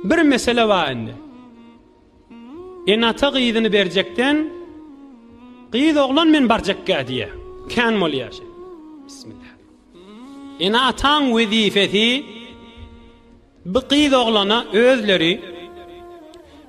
Bir mesele bar indi. Ene-ata gyzyny berjekden gyz oglan men barjakka diýe. Kän bolýar şeý. Bismillah. Ene-ataň wezifesi bu gyz oglana özleri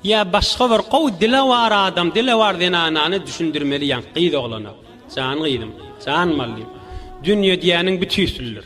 ýa başga bir gowy dilewar adam, dilewar zenanany düşündirmeli ýa gyz oglana. Jan gyzym, jan mallym. Dünýe diýeniň bütüsüldir.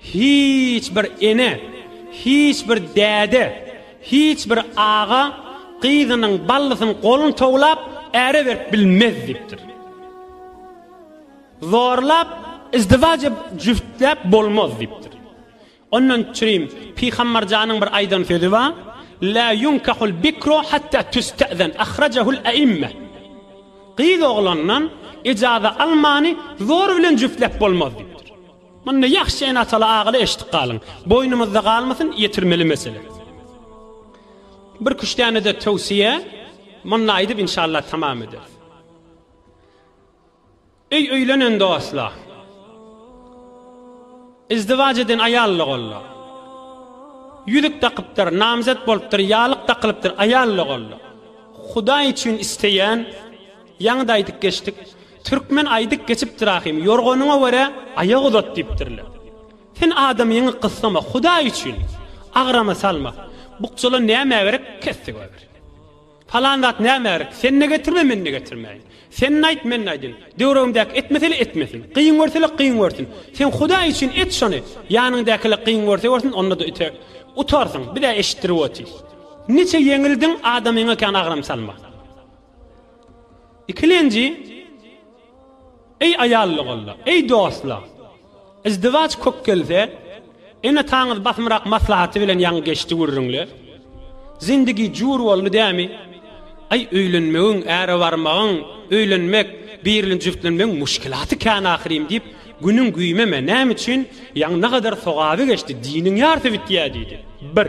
Hiç bir ene, hiç bir däde, hiç bir aga gyzynyň, ballysynyň goluny towlap, äre berip bilmez diýipdir. Zorlap, izdiwaç edip, jübtläp bolmaz diýipdir. Ondan çürim Pygambarjanyň bir aýdan sözi bar, La yunkahul bikru hatta tüste'zen, ahrajahul e'imme. Gyz oglandan ejaza almany zor bilen jübtläp bolmaz diýipdir. Munny ýahşy ene-ataly agaly eşitip galyň. Boýnumyzda galmasyn, ýetirmeli mesele. Birküç däne-de töwsiýe munny aýdyp inşallah tamam ederis. Öý öýlenen dostlar. Izdiwaç eden aýal-la golla. Ýüzük dakypdyr, namzet bolupdyr, ýalyk dakylypdyr, aýal-la golla. Hudaý üçin isleýän, ýaňy-da aýdyp geçdik, Türkmen aýdyp geçipdir ahym, Ýorganyňa görä aýak uzat diýipdirler. Sen adamyňy gyssama, Hudaý üçin, agrama salma. Bukjala näme gerek, kesdi goýber. Palan zat näme gerek, sen-de getirme, men-de getirmäýin. Sen-de aýt, men-de aýdyn. Döwregimdäki etmese-le etmesin. Kyn görse-le kyn görsün. Sen Hudaý üçin et şony, ýanyňdaky-le kyn görse görsün, onda-da üte. Utarsyň, biz-ä eşitdirip otyrys. Niçe ýeňildiň, adamyňa kän agram salma. Ikilenji, Eý aýallygolla, eý dostlar! Izdiwaç kök gelse, ene-ataňyz basymrak maslahaty bilen ýaňy geçdi gürrüňler. Zindigi jur boldy dämi? Aý öýlenmegiň, äre barmagyň, öýlenmek, birli jübtlenmegiň muşkilaty kän ahyrym diýip, günüň güýmeme, näme üçin, ýaňy nagadar sogaby geçdi, diniň ýarsy bitýä diýdi. Bir.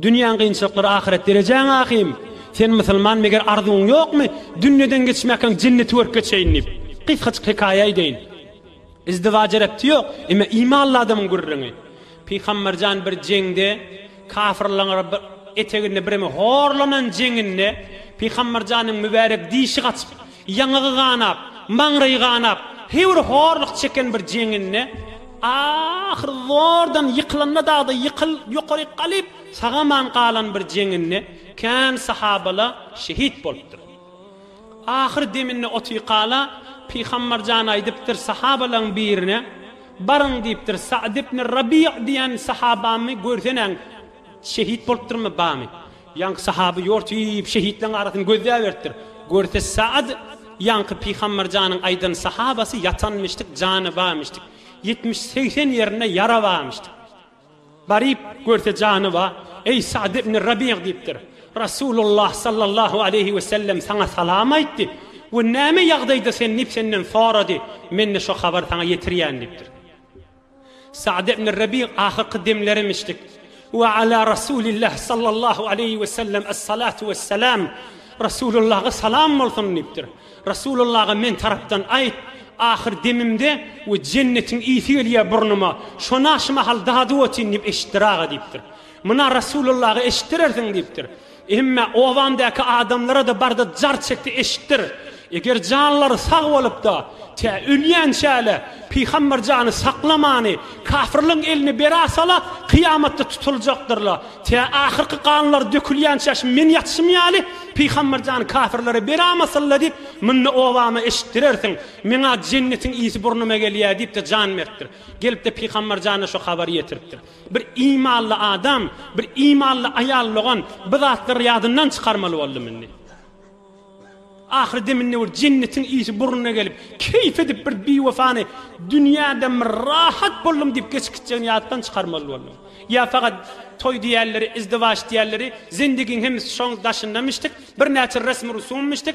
Dünýäň gynçylyklary ahyret derejäň ahym sen musulman meger arzuwyň ýokmy dünýeden geçmäkäň jenneti görüp geçeýin diýip gysgajyk hekaýa eýdeýin izdiwaja repti ýok emme imanly adamyň gürrüňi pygamberjan bir jeňde kafyrlaň eteginde birimi horlanan jeňinde pygamberjanyň mübärek dişi gaçyp Ýaňagy ganap, maňraýy ganap, hewr horluk çeken bir jeňinde, ahyr zordan ýykylanda dagda ýykyl ýokaryk galyp, sagaman galan bir jeňinde, kän sahabala şehit bolupdyr. Ahyr deminde otyykala, Pygambar jan aýdypdyr sahabalaň birine, Baryň diýipdir, Sa'd ibn Rabi' diýen sahabamy görsenäň, şehit bolupdyrmy, bamy? Ýaňky sahaby ýortyp şehitleň arasyny gözläberipdir. Görse Saad ýaňky Pygambar janyň aýdan sahabasy ýatanmyşdyk jany bamyşdyk. Ýetmiş segsen ýerinde ýara bamyşdyk. Baryp görse jany ba, Eý Saad ibn Rabiýa diýipdir. Rasulullah sallallahu aleýhi we sellem saňa salam aýtdy we näme ýagdaýda sen diýip senden sorady. Mende şo habar saňa ýetirýän diýipdir. Sa'd ibn Rabi' ahyrky demlerim içdik. Wa ala Rasulillah sallallahu aleýhi we sellem es-salatu wes-selam. Rasulullaha salam bolsun diýipdir. Rasulullaha men tarapdan aýt, ahyr demimde we jennetiň ysy gelýär burnuma, şona şu mahal dadyp otyryn diýip eşitdir aga diýipdir. Muna Rasulullaha eşitdirersiň diýipdir. Emme obamdaky adamlara-da barda jar çekdi eşitdir. Eger janlary sag bolup-da, tä ölýänçäle Pygamber jany saklamany, kafyrlaryň eline beräsala, kyýamatda tutuljakdyrla. Tä ahyrky ganlary dökülýänçä şu men ýatyşym ýaly, Pygamber jany kafyrlara berämasynla diýip, munda obama eşitdirersiň. Meň-ä jennetiň ysy burnuma gelýä diýip-de jan beripdir. Gelip-de Pygamber jana şu habary ýetiripdir. Bir imanly adam, bir imanly aýal logan bu zatlary ýadyndan çykarmaly boldum indi. Ahyry deminde bir jennetiň ysy burnuna gelip, keýp edip bir biwefany dünýäden bir rahat boldum diýip geçip gitjegini ýatdan çykarmaly boldum. Ýa fakat toý diýerleri, izdiwaç diýerleri, zendigiň hemmisi şoň daşynda mişdik, birnäçe resmi rusum mişdik,